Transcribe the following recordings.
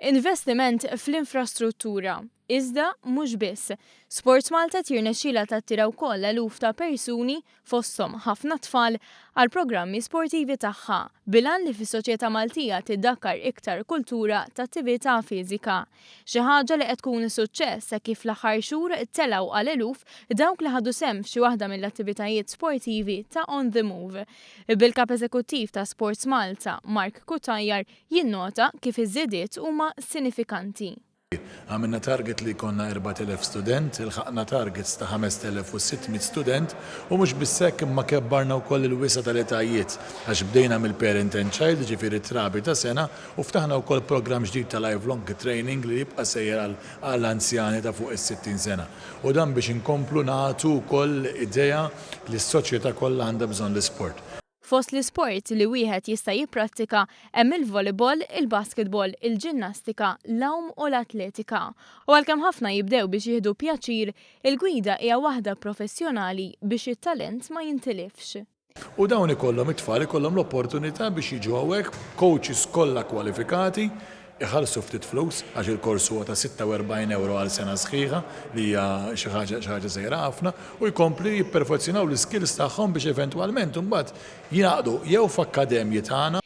Investiment fl-infrastruttura, iżda mhux biss. SportsMalta qed jirnexxilha tattira wkoll eluf ta' persuni, fosthom ħafna tfal, għall-programmi sportivi tagħha, bil-għan li fis-soċjetà Maltija tiddakkar iktar kultura t'attività fiżika. Xi ħaġa li qed tkun suċċess hekk kif fl-aħħar xhur telgħu għal eluf dawk li ħadu sehem f'xi waħda mill-attivitajiet sportivi ta' On The Move. Bil-Kap Eżekuttiv ta' SportsMalta, Mark Cutajar, Jinnota kif iż-żidiet huma sinifikanti. Għamilna target li jkollna 4,000 student, ilħaqna targets ta' 5,600 student u mhux biss hekk imma kebbarna wkoll il-wisa' tal-etajiet għax bdejna mill-parent and child jiġifieri trabi ta' sena u ftaħna wkoll programm ġdid ta' lifelong training li jibqa' sejjer għal anzjani ta' fuq is-60 sena u dan biex inkomplu nagħtu wkoll idea li s-soċjetà kollha għandha bżonn l-isport. Fost l-isports li wieħed jista' jipprattika hemm il-volleyball, il-basketball, il-ġinnastika, l-għum u l-atletika. U għalkemm ħafna jibdew biex jieħdu pjaċir, il-gwida hija waħda professjonali biex it-talent ma jintilifx. U dawn ikollhom, it-tfal ikollhom l-opportunità biex jiġu hawnhekk b'coaches kollha kwalifikati iħallsu ftit flus għax il-kors huwa ta' 46 ewro għal sena sħiħa li hija xi ħaġa xi ħaġa żgħira ħafna u jkompli jipperfezzjonaw l-iskills tagħhom biex eventwalment imbagħad jingħaqdu jew f'akkademji tagħna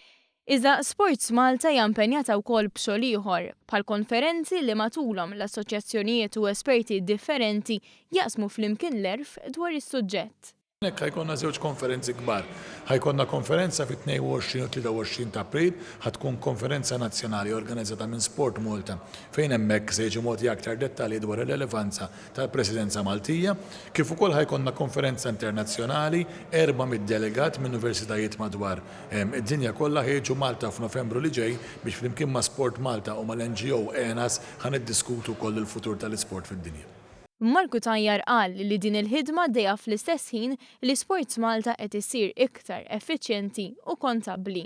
Iżda Sports Malta hija impenjata wkoll b'xogħol ieħor, bħall-konferenzi li matulhom l-assoċjazzjonijiet u esperti differenti jaqsmu flimkien l-għerf dwar is-suġġett. Hawnhekk ħa jkollna żewġ konferenzi kbar. Ħa jkollna konferenza fit-22 u 23 ta' April, ħa tkun konferenza nazzjonali organizzata minn Sport Malta fejn hemmhekk se jiġu mogħtija aktar dettalji dwar ir-relevanza tal-Presidenza Maltija, kif ukoll ħa jkollna konferenza internazzjonali, 400 delegat minn Universitajiet madwar id-dinja kollha ħa jiġu Malta f'Novembru li ġej biex flimkien ma' Sport Malta u mal-NGO ENAS ħa niddiskutu wkoll il-futur tal-isport fid-dinja. Imma l-Cutajar qal li din il-ħidma għaddejja fl-istess ħin li SportsMalta qed issir iktar effiċjenti u kontabbli.